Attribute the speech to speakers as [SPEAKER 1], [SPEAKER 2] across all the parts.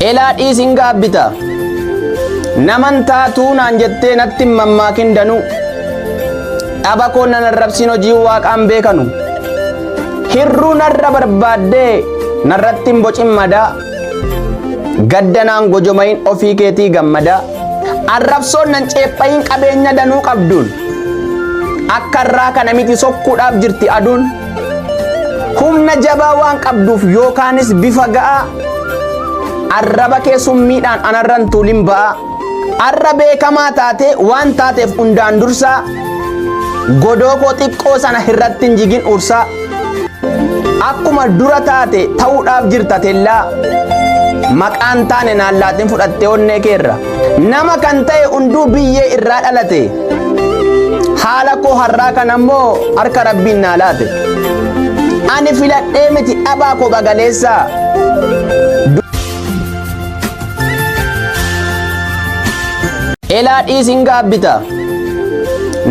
[SPEAKER 1] Elaa dhiis hin gaabbita. Naman taatuu naan jettee natti hin mammaakin danuu. Dhaba koo nan arrabsiin hojii waaqaan beekanu. Hirruu narra barbaaddee narratti hin bocin madaa. Gadda naan gojomayin ofii keetii gammadaa. Arrabsoon nan ceephayin qabeenya danuu qabduun. Akka irraa kana miti sokkuudhaaf jirti aduun. Humna jabaa waan qabduuf yookaanis bifa ga'aa arraba kee summiidhaan anarran tuulin ba'aa arra beekamaa taatee waan taateef hundaan dursaa godoo koo xiqqoo sana irratti hin jigin ursaa akkuma dura taate ta'uudhaaf jirta tellaa maqaan taane naallaatiin fudhattee onnee keerra. Nama kan ta'e hunduu biyyee irraa dhalate. Haala koo har'aa kan ammoo harka rabbiin naa laate. Ani filadhee miti dhabaa koo bagaleessaa. Elaa dhiisin gaabbita.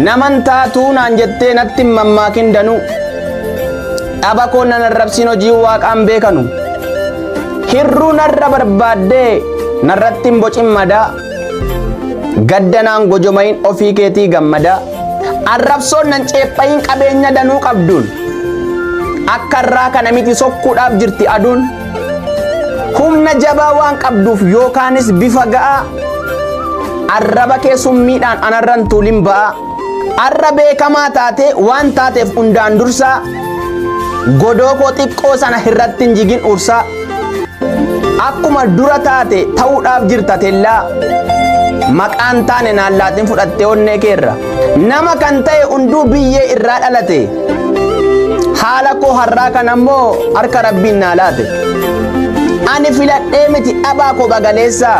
[SPEAKER 1] Naman taatuu naan jettee natti hin mammaakin danuu. Dhaba koo nan arrabsiin hojii waaqaan beekanu. Hirruu narra barbaaddee narratti hin bocin madaa. Gaddanaan gojomayin ofii keetii gammadaa. Arrabsoon nan ceephayin qabeenya danuu qabduun. Akka irraa kana miti sokkuudhaaf jirti aduun. Humna jabaa waan qabduuf yookaanis bifa ga'aa. Arraba kee summiidhaan anarran tuulin ba'aa. Arra beekamaa taatee waan taateef hundaan dursaa godoo koo xiqqoo sana irratti hin jigin ursaa akkuma dura taate ta'uudhaaf jirta tellaa maqaan taane naan laatiin fudhattee onnee keerra nama kan ta'e hunduu biyyee irraa dhalate haala koo har'aa kan ammoo harka rabbiin naa laate ani filadhee miti dhabaa koo bagaleessaa